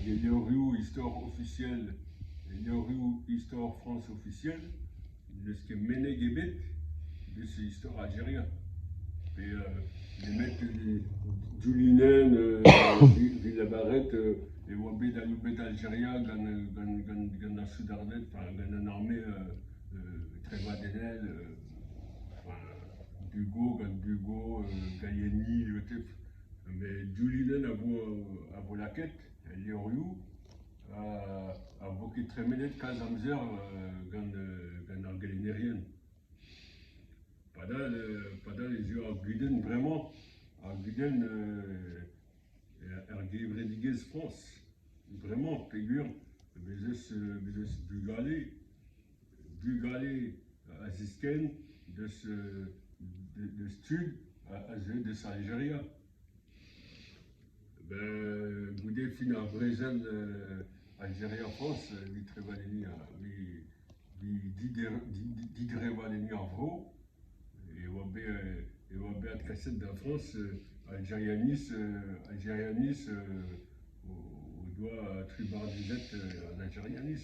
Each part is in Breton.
hag enoriou istor ofisiel enoriou istor Frañs ofisiel n'eus ket meneg ebet eus istor Aljeria pe nemet Djoulinenn evit lavaret e oa bet aloubet Aljeria gant gant gant gant ar soudarded enfin gant an arme trevadennel enfin Dugo gant Dugo Gaiani met div linenn a vo a vo lakaet el levrioù ha a vo ket tremenet kalz amzer gant gant ar gelennerien. Padal padal ez eo ar gudenn bremañ ar gudenn er gevredigezh Frañs. Bremañ peogwir bez eus bez eus bugale Bugale a ziskenn deus deus tud a zeu deus Aljeria. Ben goude fin ar brezel Aljeria-Frañs evit trevadenniñ ar didrevadenniñ ar vro e oa bet e oa bet adkaset da Frañs Aljerianiz Aljerianiz o doa tribardizet an Aljerianiz.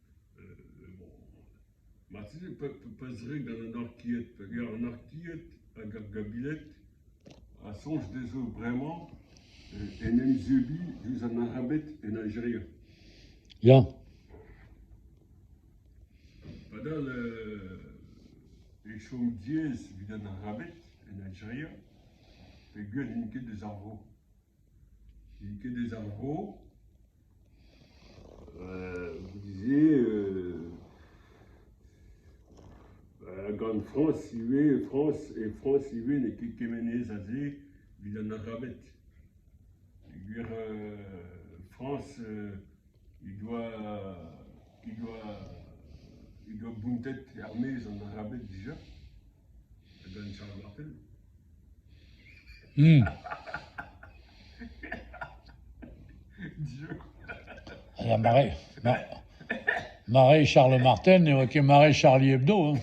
Bon, marteze pezh-red an anarkied, hag ar anarkied hag ar gabiled a soñj dezho bremañ en em zebriñ diouzh an arabed en Aljeria. Ya. Padal e chom diaes evit an arabed en Aljeria, peogwir n'int ket eus ar vro. N'int ket eus ar vro ? Vous disiez gant Frañs ivez, Frañs, e Frañs ivez n'eo ket kemenez aze evit an Arabed. Peogwir Frañs he doa he doa he doa bountet er-maez an Arabed dija. Mare Charles Marten ne oa ket mare Charlie Hebdo.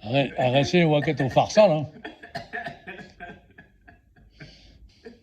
Ar re-se ne oa ket o farsal.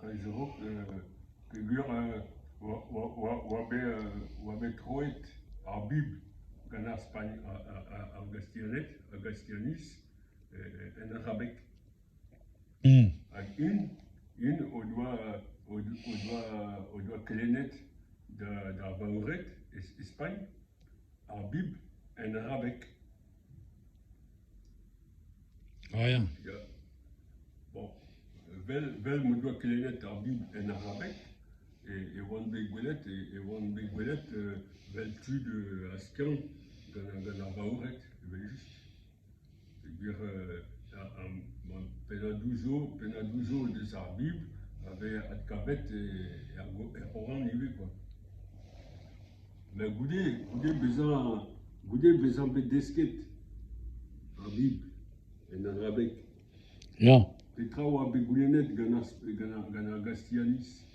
Hag zo peogwir oa bet troet ar Bibl gant ar Spagn, ar Gastianed, ar Gastianiz en arabeg. Hag int o doa kelennet d'ar Baored e Spagn ar Bibl en arabeg. Ah ya. Vel, vel m'o doa kelennet ar Bibl en arabeg e oan bet gwelet e e oan bet gwelet vel tud a skiant gant ar vaoured evel-just. Peogwir pennadoù zo pennadoù zo deus ar Bibl a vez adkavet er er C'horan ivez kwa. Ma goude, goude bezañ, goude bezañ bet desket ar Bibl en arabeg, ya, petra oa bet goulennet gant ar gant ar gant ar gastianiz?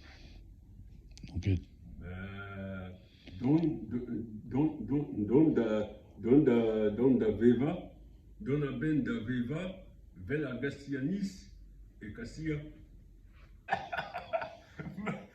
ket. Ben, dont dont dont dont da dont da dont da vevañ, dont a-benn da vevañ 'vel ar gastianiz e Kasia.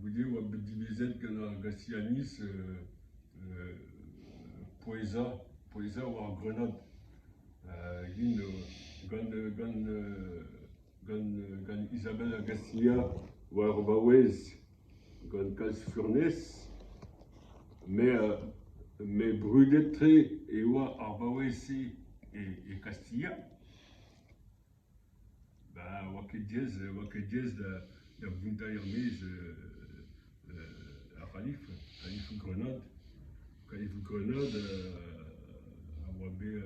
Goude e oa bet dilezet gant ar Gasianiz pouezañ pouezañ war grenad int gant gant gant gant Isabelle Garcia war o vaouez gant kalz furnez met brudet-tre e oa ar vaouez-se e Kastilha. Bah oa ket diaes oa ket diaes da da vontañ er-maez ar c'halif, kalifoù grenad. Kalifoù grenad a oa bet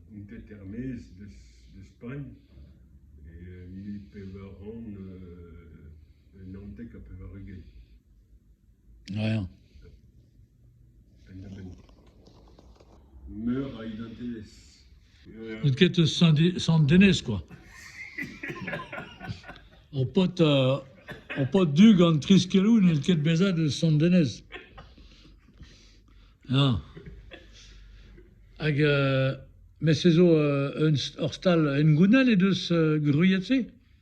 kontet er-maez e Spagn e mil pevar c'hant naontek ha pevar-ugent. Ya. Meur a identelezh. N'out ket eus Sant-Denez, kwa. Ho paotr, ho paotr du gant tri skelou n'out ket bezet eus Sant-Denez. Ya. Hag euh, mes se zo euh, un ur stal hengounel he deus euh, gwriet se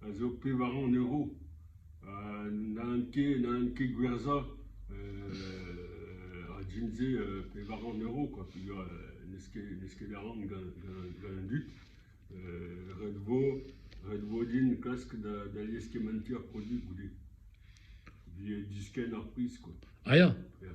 a zo pevar c'hant euro. Ha n'hallent ket n'hallent ket gwerzhañ ar jean-se pevar c'hant euro kwa peogwir n'eus ket n'eus ket a ran gant gant an dud. Ret vo ret vo din klask da da lieskementiñ ar produioù goude. Evit diskenn ar priz kwa. Ah ya? Ya.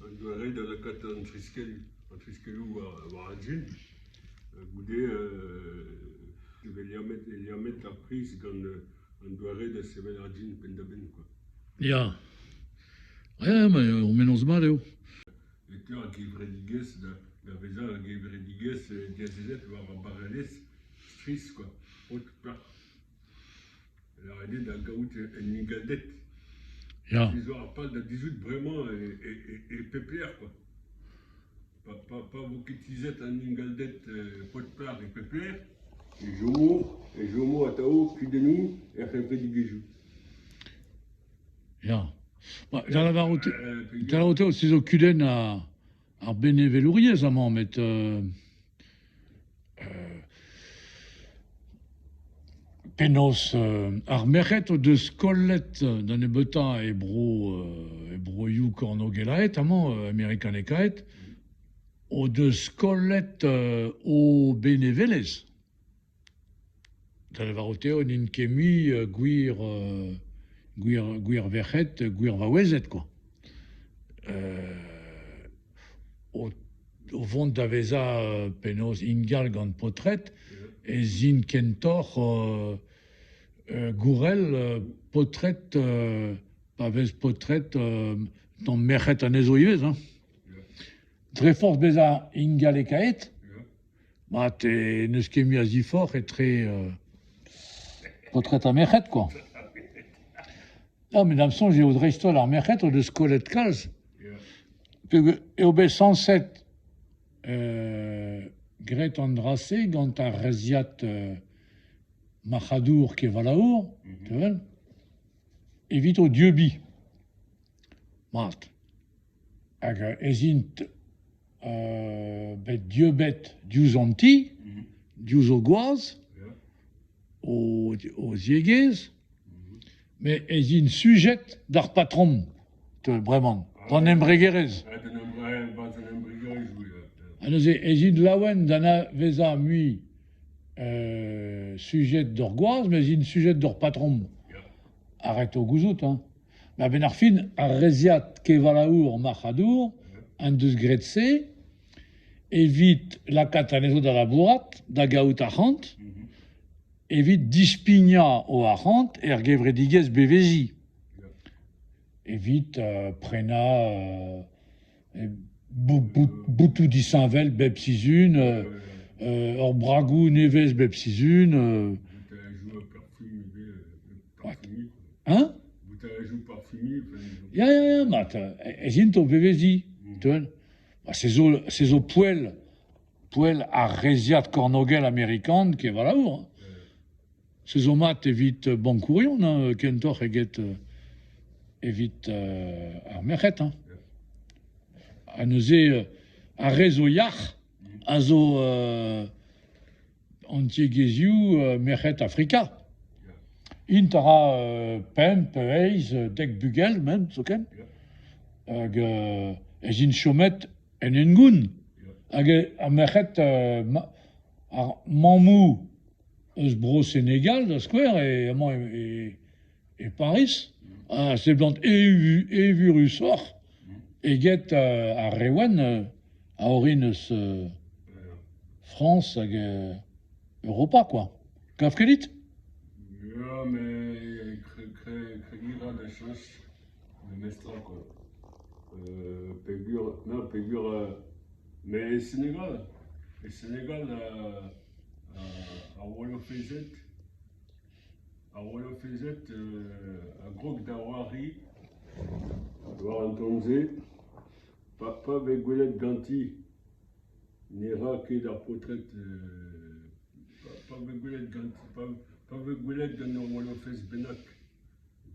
Un doare da lakaat an triskelloù, an triskelloù war an jin. Goude e vez liammet liammet ar priz gant an doare da sevel ar jin penn-da-benn kwa. Ya. Ya, ma ur mennozh mat eo. E teu ar gevredigezh da da vezañ ar gevredigezh diazezet war ar barrelezh strizh kwa, paotr plat. Lâret eo da gaout un ingalded. Ya. Pezh 'zo ar pal da dizhout bremañ e pep lec'h kwa. Pa pa pa vo ket tizhet an ingalded pod-plac'h e pep lec'h e chomo e chomo atav kudennoù er c'hevredigezhioù. Ya. Ma da lavarout da lavarout eo se zo kudenn a Ar benevelouriezh amañ met euh, euh, penaos euh, ar merc'hed o deus kollet da nebeutañ e bro euh, e broioù kornogelaet amañ euh, amerikanekaet o deus kollet euh, o benevelezh. Da lavarout eo n'int ket mui gwir gwir gwir verc'hed, gwir vaouezed kwa. O o vont da vezañ penaos ingal gant paotred ez int kentoc'h gourel paotred pa vez paotred tamm merc'hed anezho ivez hein. Dre forzh bezañ ingalekaet Bah, n'eus ket mui a ziforc'h etre paotred ha merc'hed quoi. Ya, met da'm soñj eo dreist-holl ar merc'hed o deus kollet kalz. Eo bet sañset graet an dra-se gant ar reizhiad marc'hadour kevalaour, tu 'vel, evit o dieubiñ. Mat. hag ez int bet dieubet diouzh an ti, diouzh o gwaz, o ziegezh, met ez int sujet d'ar patrom, bremañ, d'an embregerezh. Ha neuze ez int laouen d'anavezañ mui sujet d'hor gwaz, mes int sujet d'hor patrom. a reto gouzout hein. A-benn ar fin, ar reizhiad kevalaour marc'hadour en deus graet se evit lakaat anezho da labourat, da gaout arc'hant, evit dispignañ o arc'hant er gevredigezh beveziñ, evit prenañ Botoù disheñvel bep sizhun, ur bragoù nevez bep sizhun. Hein ? Boutarejoù parfumiñ ? Ya, ya, ya, mat. Ez int o veveziñ. Se zo, se zo poell, poell ar reizhiad kornogel amerikan, ket voilà. Se zo mat evit bankourion hein, kentoc'h eget evit ar merc'hed hein. Ha neuze ar re zo yac'h a zo an tiegezhioù merc'hed Afrika. Int a ra pemp, eizh, dek bugel men zoken. Hag ez int chomet en hengoun. Hag ar merc'hed, ar mammoù eus Bro-Senegal da skouer, e amañ e Pariz, a seblant evurusoc'h eget ar re wenn a orin eus Frañs hag Europa, quoi. Kav ket dit? Ya, met kregiñ a ra da cheñch. memestra koa, peogwir na peogwir met e Senegal, e Senegal ar wallafezed, ar wallafezed a grog da c'hoari war an taol-se pa pa vez gwelet ganti ne ra ket ar paotred pa vez gwelet ganti pa vez gwelet gant ur wallafez bennak.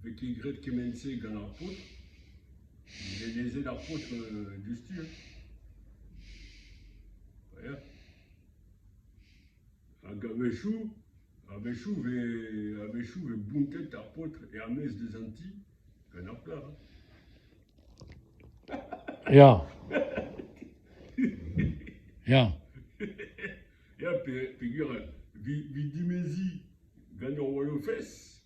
Pe ket graet kement-se gant ar paotr ? Elezet ar paotr diouzhtu hein. Ya. Hag a-wechoù, a-wechoù 'vez a-wechoù 'vez bountet ar paotr er-maez deus an ti gant ar plac'h hein. Ya. Ya. Ya pe- peogwir 'vi dimeziñ gant hor walofez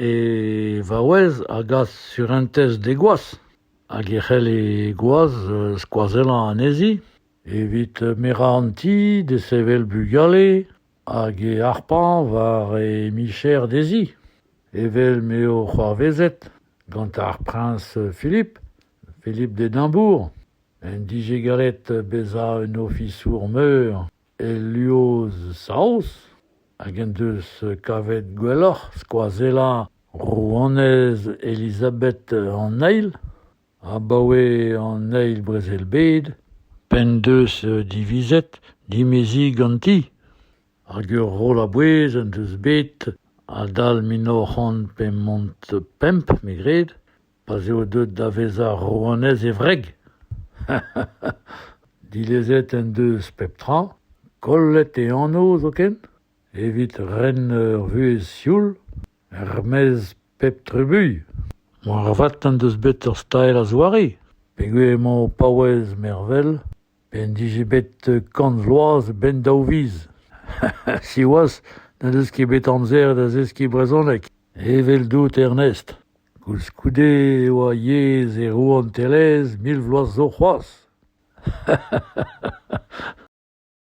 E vaouez a gas surentez d'he gwaz hag e c'hell he gwaz skoazellañ anezhi evit merañ an ti, desevel bugale hag he harpañ war he micher dezhi evel m'eo c'hoarvezet gant ar priñs Philip, Philip Dedambour, en dije gallet bezañ un ofisour meur. Eliosaos, hag en deus kavet gwelloc'h skoazellañ rouanez Elizabeth an Eil abaoe an Eil Brezel-bed p'en deus divizet dimeziñ ganti, hag ur roll a-bouez en deus bet adal mil nav c'hant pemp me gred. pa'z eo deuet da vezañ rouanez e wreg. Dilezet en deus pep tra, kollet e anv zoken, evit ren ur vuhez sioul, er-maez pep trubuilh. Moarvat en deus bet ur stael a-zoare, peogwir emañ o paouez mervel p'en dije bet kant vloaz a-benn daou viz. Siwazh n'en deus ket bet amzer da zeskiñ brezhoneg, eveldout Ernest. Koulskoude e oa yezh e rouantelezh mil vloaz zo c'hoazh.